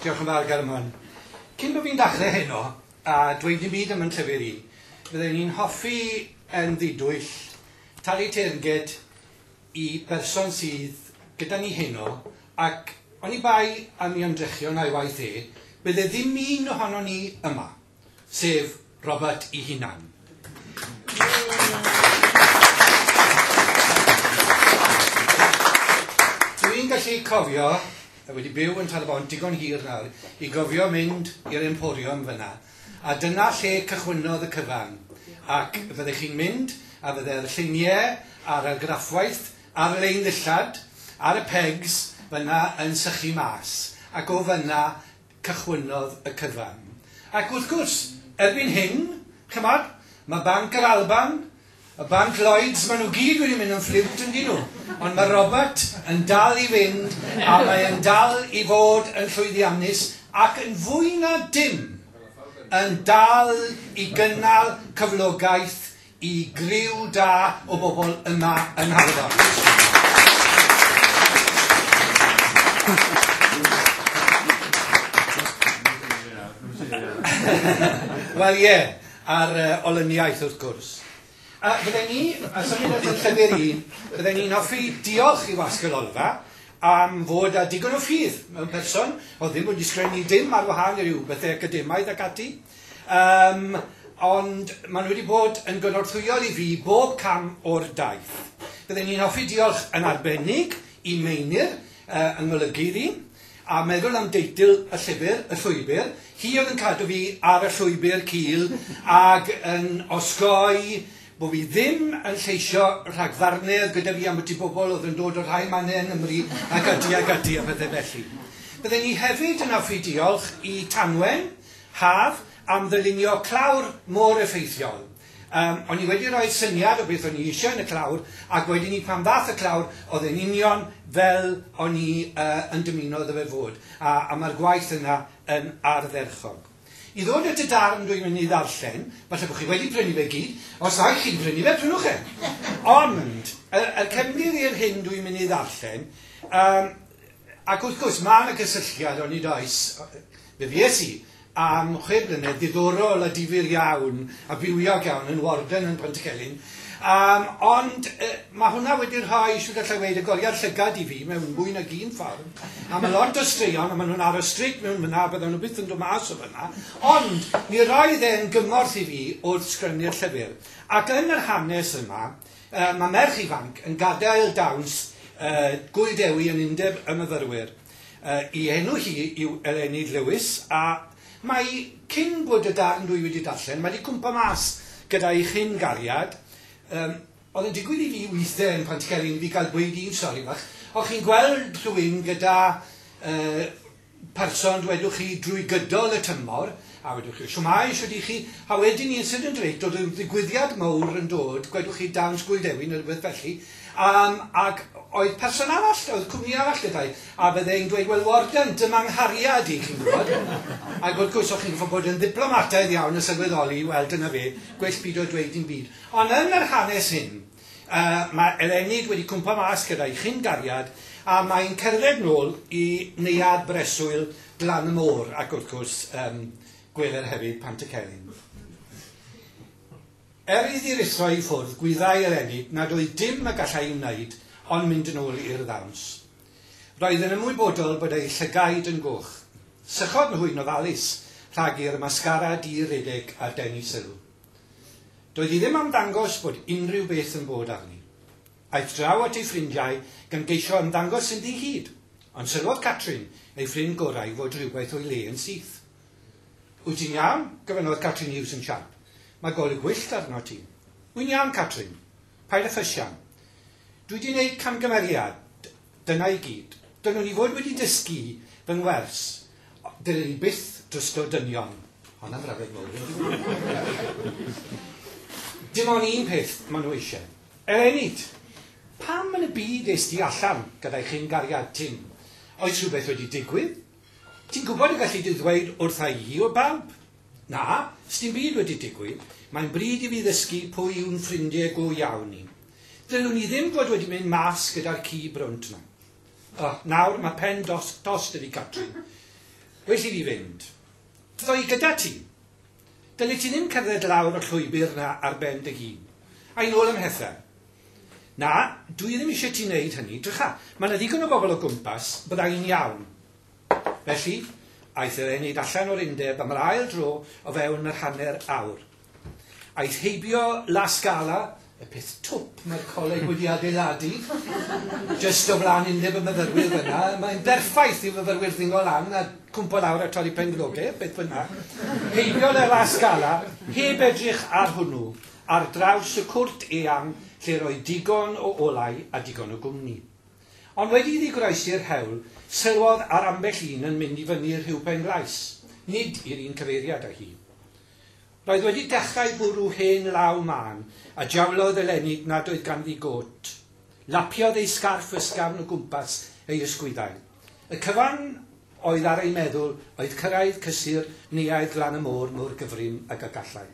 Diolch yn fawr, Gareth Mann. Cyn bod fi'n dachrau heno, a dweud dim byd am yn llyfr i, fydden i'n hoffi yn ddidwyll talu teyrnged i berson sydd gyda ni heno, ac oni bai am ei ymdrechion a'i waith e, byddai ddim un ohonon ni yma. sef Robert ei hunan. Dw i'n gallu cofio, a wedi byw yn Tal-y-bont digon hir nawr, i gofio mynd i'r Emporium fyna, a dyna lle cychwynnodd y cyfan, ac fyddech chi'n mynd a fydde'r lluniau a'r argraffwaith ar-lein ddillad ar y pegs fyna yn sychu mas, ac o fyna cychwynnodd y cyfan. Ac wrth gwrs, erbyn hyn, ch'mod, ma' Banc yr Alban, y Banc Lloyds, ma' nhw gyd wedi mynd yn ffliwt yndyn nhw, ond ma' Robert yn dal i fynd a mae yn dal i fod yn llwyddiannus ac yn fwy na dim yn dal i gynnal cyflogaeth Y griw da o bobl yma yng Nghaernarfon. Wel ie, a'r olyniaeth wrth gwrs. A fydden ni, a symud at y llyfr i, fydden ni'n hoffi diolch i Wasg yr Olfa am fod â digon o ffydd mewn person, o'dd ddim wedi sgrennu dim ar wahân i ryw bethe academaidd ac ati, Yym, ond maen nhw wedi bod yn gynorthwyol i fi bob cam o'r daith. Bydden i'n hoffi diolch yn arbennig i Meinir, yy, yng ngolygydd i, a meddwl am deitl y llyfr, Y Llwybr, hi oedd yn cadw fi ar y llwybr cul ag yn osgoi bo' fi ddim yn lleisio rhagfarne oedd gyda fi ambyti bobl oedd yn dod o rhai mannau yng Nghymru ac ati ac ati a phethe felly. Bydden i hefyd yn hoffi diolch i Tanwen, Haf, am ddylunio clawr mor effeithiol. Yym, o'n i wedi rhoi syniad o beth o'n i eisiau yn y clawr, ac wedyn 'ny pan ddaeth y clawr, oedd e'n union fel o'n i yy yn dymuno iddo fe fod, a a ma'r gwaith yna yn ardderchog. I ddod at y darn dwi'n mynd i ddarllen, falle bo' chi wedi prynu fe i gyd, os na i chi'n prynu fe, prynwch e! Ond, y y cefndir i'r hyn dwi'n mynd i ddarllen, yym, Ac wrth gwrs, mae yna gysylltiad, onid oes, fe fues i am chwe blynedd ddiddorol a difyr iawn a bywiog iawn yn Warden yn Pontycelyn, um, ond uh, mae hwnna wedi rhoi, siwr gallai weid, y goliad llygad i fi mewn mwy nag un ffordd, a mae lot o straeon, a maen nhw'n aros streic mewn fyna, a bydden nhw byth yn dod mas o fyna, ond mi roedd e'n gymorth i fi wrth sgrennu'r llyfr. Ac yn yr hanes yma, Mae merch ifanc yn gadael dawns y Gŵyl Dewi yn Undeb y Myfyrwyr. Ei enw hi yw Eleni Lewis a mae, cyn bod y darn dwi wedi darllen, wedi cwmpo mas gyda'i chyn-gariad. Yym, oedd yn digwydd i fi weithd'en pan ti cael un i fi gael gweud un stori fach, o chi'n gweld rhywun gyda yy person dwedwch chi drwy gydol y tymor a wedwch chi shwmae shwt i chi a wedyn incident rate dod yn ddigwyddiad mowr yn dod gwedwch chi dawns gwyldewin neu rhywbeth felly um, ac oedd person arall oedd cwmni arall gyda'i a byddai'n dweud wel warden dyma nghariad i chi'n gwybod ac wrth gwrs o'ch chi'n fod bod yn ddiplomataidd iawn a sylweddoli wel dyna fe gwell byd o dweud dim byd ond yn yr hanes hyn Mae Elennid wedi cwmpo mas gyda'i chyn-gariad a mae'n cerdded nôl i neuadd breswyl Glan y Môr ac wrth gwrs yym gweler hefyd Pant y Celyn. Er iddi ruthro i ffwrdd gwyddai Elennid nad oedd dim y gallai'i wneud ond mynd yn ôl i'r ddawns. Roedd yn ymwybodol bod ei llygaid yn goch. Sychodd nhw'n ofalus rhag i'r mascara di redeg ar denu sylw. Doedd hi ddim am ddangos bod unrhyw beth yn bod arni. Aeth draw at ei ffrindiau gan geisio ymddangos yn ddi-hid, ond sylwodd Catrin, ei ffrind gorau, fod rhywbeth o'i le yn syth. Wyt ti'n iawn? gofynnodd Catrin Hughes yn siarp. Mae golwg gwyllt arnot ti. Wy'n iawn, Catrin. Paid â physian. Dwi 'di neud camgymeriad. Dyna i gyd. Dylwn i fod wedi dysgu fy ngwers. Dylwn i byth drwsgo dynion. Honna'n frawddeg mowr i fi. Dim on un peth ma nhw eisiau. Eleni-t! Pam yn y byd es di allan gyda'i chyn-gariad Tim? Oes rhywbeth wedi digwydd? Ti'n gwybod y galli di ddweud wrtha i o bawb? Na, sdim byd wedi digwydd. Mae'n bryd i fi ddysgu pwy yw'n ffrindie go iawn i. Ddylwn i ddim fod wedi mynd mas gyda'r ci brwnt 'ma. O, nawr mae pen dos, dos 'da fi Catrin. Well i fi fynd. Ddo i gyda ti. Dyli ti ddim cerdded lawr y llwybr 'na ar ben dy hun. Ai nôl ym mhethau. Na, dwi ddim eisiau ti wneud hynny. Drycha, mae 'na ddigon o bobl o gwmpas, bydda i'n iawn. Felly, aeth yr enid allan o'r undeb am yr ail dro o fewn yr hanner awr. Aeth heibio La Scala, y peth twp mae'r coleg wedi adeiladu, jyst o flaen undeb y myfyrwyr fan'na, mae'n berffaith i fyfyrwyr ddingo lan a cwmpo lawr a torri penglodau, beth bynnag. Heibiodd e La Scala, heb edrych ar hwnnw, ar draws y cwrt eang lle roedd digon o olau a digon o gwmni. Ond wedi iddi groesi'r hewl, sylwodd ar ambell un yn mynd i fyny Rhiw Penglais, nid i'r un cyfeiriad â hi. Roedd wedi dechrau bwrw hen law mân, a jawlodd eleni nad oedd ganddi gôt. Lapiodd ei sgarff ysgafn o gwmpas ei ysgwyddau. Y cyfan oedd ar ei meddwl oedd cyrraedd cysur neuadd Glan-y-môr mor gyfrin ag y gallai.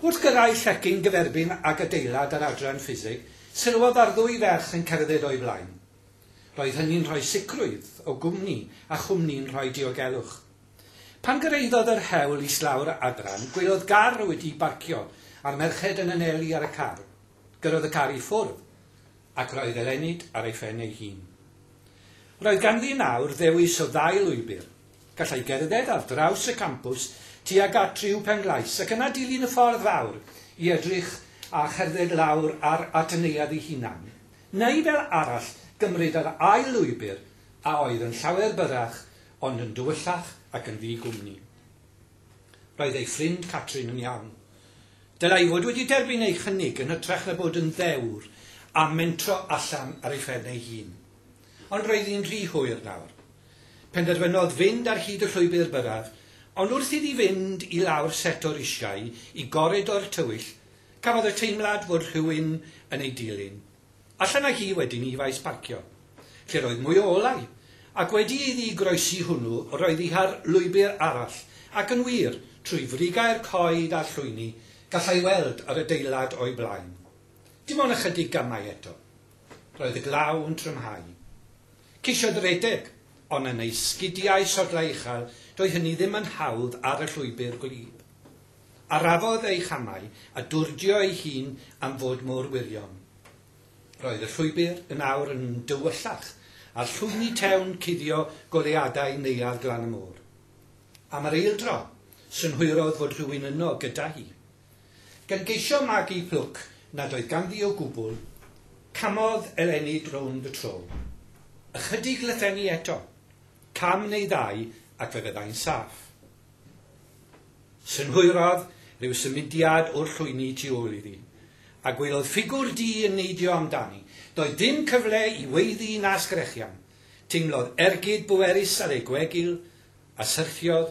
Wrth gyrraedd llecyn gyferbyn ag adeilad yr Adran Ffiseg, sylwodd ar ddwy ferch yn cerdded o'i flaen. Roedd hynny'n rhoi sicrwydd o gwmni a chwmni'n rhoi diogelwch. Pan gyrhaeddodd yr hewl islaw'r adran, gwelodd gar wedi'i barcio a'r merched yn anelu ar y car. Gyrrodd y car i ffwrdd ac roedd Eleni ar ei phen ei hun. Roedd ganddi nawr ddewis o ddau lwybr, Gallai gerdded ar draws y campws tuag at Riw Penglais ac yna dilyn y ffordd fawr i edrych a cherdded lawr ar at y neuadd ei hunan. Neu fel arall gymryd yr ail lwybr a oedd yn llawer byrrach ond yn dywyllach ac yn ddi gwmni. Roedd ei ffrind Catrin yn iawn. Dylai fod wedi derbyn ei chynnig yn hytrach na bod yn ddewr a mentro allan ar ei phen ei hun. Ond roedd hi'n rhy hwyr nawr. Penderfynodd fynd ar hyd y llwybr byrraf, ond wrth iddi fynd i lawr set o risiau i goridor tywyll, cafodd y teimlad fod rhywun yn ei dilyn. Allan â hi wedyn i faes parcio, lle roedd mwy o olau, ac wedi iddi groesi hwnnw roedd hi ar lwybr arall, ac yn wir, trwy frigau'r coed a'r llwyni, gallai weld yr adeilad o'i blaen. Dim ond ychydig gamau eto. Roedd y glaw yn trymhau. Ceisiodd redeg, ond yn ei sgidiau sodlau uchel, doedd hynny ddim yn hawdd ar y llwybr gwlyb. Arafodd ei chamau a dwrdio ei hun am fod mor wirion. Roedd y llwybr yn awr yn dywyllach a llwyni tewn cuddio goleuadau Neuadd Glan-y-Môr. Am yr eildro, synhwyrodd fod rhywun yno gyda hi. Gan geisio magu plwc nad oedd ganddi o gwbl, camodd Eleni drownd y tro. Ychydig lythenni eto, cam neu ddau ac fe fyddai'n saff. Synhwyrodd ryw symudiad o'r llwyni tu ôl iddi, a gwelodd ffigwr du yn neidio amdani. Doedd dim cyfle i weiddi na sgrechian. Teimlodd ergyd bwerus ar ei gwegil, a syrthiodd